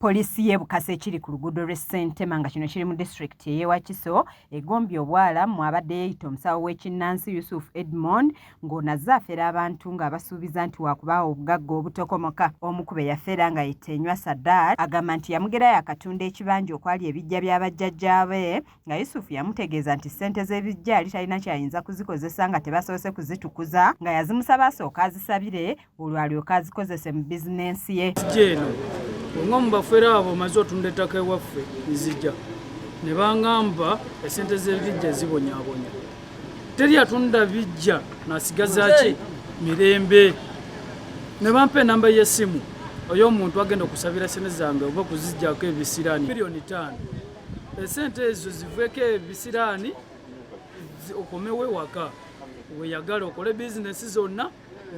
Poliisi y'e Bukasa ekiri ku luguudo lw'e Ssentema nga kino kiri mu disitulikiti ey'e Wakiso egombye obwala mw'abadde yeeyita omusawo w'ekinnansi Yusuf Edmond ng'ono azze afera abantu ng'abasuubiza nti waakubaawo obugagga obutokomoka. Omu ku be yafera nga ye Tenywa Sadat agamba nti yamugerayo akatunda ekibanja okwali ebiggya bya bajjajjaabe nga Yusufu yamutegeeza nti ssente z'ebiggya yali talina kyayinza kuzikozesa nga tebasoose kuzitukuza nga yazimusaba asooka azisabire olwo alyoka azikozese mu bizinensi ye eno olunga mu bafere abo omaze otunda ettaka ewaffe nzija ne bangamba esente z'ebiggya zibonyabonya teri atunda biggya nasigazaki mirembe ne bampa enamba y'essimu oyo omuntu agenda okusabira sente zange oba okuzijjako ebisiraani miliyoni taano esente ezo ziveko ebisiraani okomewo ewaka weyagale okole bizinesi zonna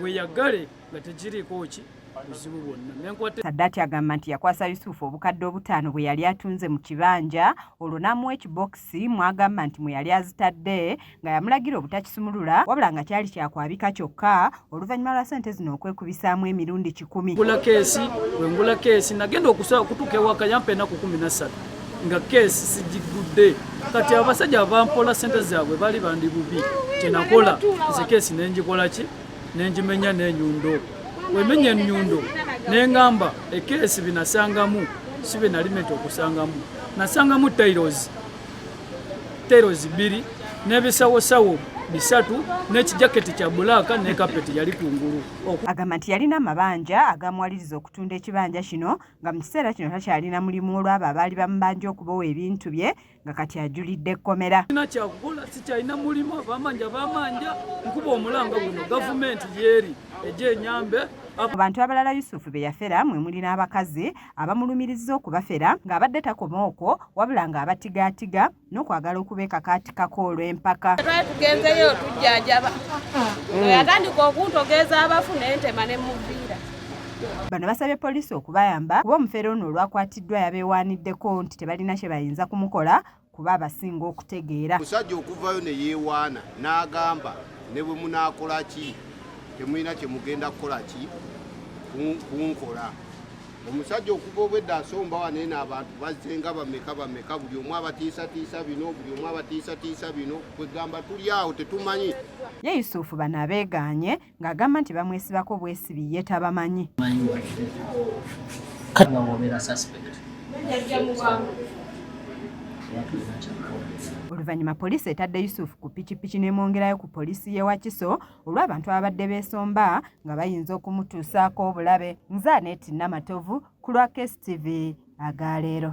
weyagale nga tekiriiko ki buzibu bwonna saddaati agamba nti yakwasa yusufu obukadde obutaano bwe yali atunze mu kibanja olwo n'amuwa ekibokisi mwagamba nti mwe yali azitadde nga yamulagira obutakisumulula wabula nga kyali kyakwabika kyokka oluvannyuma lwa sente zino okwekubisaamu emirundi kikumi ngula keesi wengula keesi nagenda okusaba okutuuka ewaka yampa enaku kumi nassatu nga keesi sigigudde kati abasajja abampola sente zaabwe bali bandi bubi kyenakola nze keesi nengikola ki nengimenya nenyundo wemenya enyundo nengamba ekeesi binasangamu sibe nalimenti okusangamu nasangamu tailozi terozi bbiri n'ebisawosawo bisatu n'ekijaketi kya bulaaka ne kapeti yali ku ngulu agamba nti yalina amabanja agamuwaliriza okutunda ekibanja kino nga mu kiseera kino takyalina mulimu olwabo abaali bamubanja okubowa ebintu bye nga kati ajulidde ekkomera ina kyakukola sikyalina mulimu abamanja bamanja nkuba omulanga guno gavumenti yeeri ejo enyambe abantu abalala yusufu be yafera mwe muli n'abakazi abamulumirizza okubafera ng'abadde takoma okwo wabula ng'abatigaatiga n'okwagala okubeekakaatikako olw'empaka twali tugenzeyo tujjanjaba mm. yatandika okuntogeeza abafu naye ntema ne muviira bano basabye poliisi okubayamba kuba omufere ono olwakwatiddwa yabeewaaniddeko nti tebalina kye bayinza kumukola kuba abasinga okutegeera. Omusajja okuvayo ne yeewaana n'agamba ne bwe munaakola ki temulina kye mugenda kukola ki kunkola. Omusajja okuva obwedda asomba wano eno abantu bazze nga bameka bameka, buli omu abatiisatiisa bino, buli omu abatiisatiisa bino, kwegamba tuli awo tetumanyi. Ye Yusufu bano abeegaanye ng'agamba nti bamwesibako bwesibi ye tabamanyi oluvannyuma poliisi etadde yusufu ku pikipiki n'emwongerayo ku poliisi y'e wakiso olw'abantu ababadde beesomba nga bayinza okumutuusaako obulabe nzaaneeti namatovu ku lwa kstv agaleero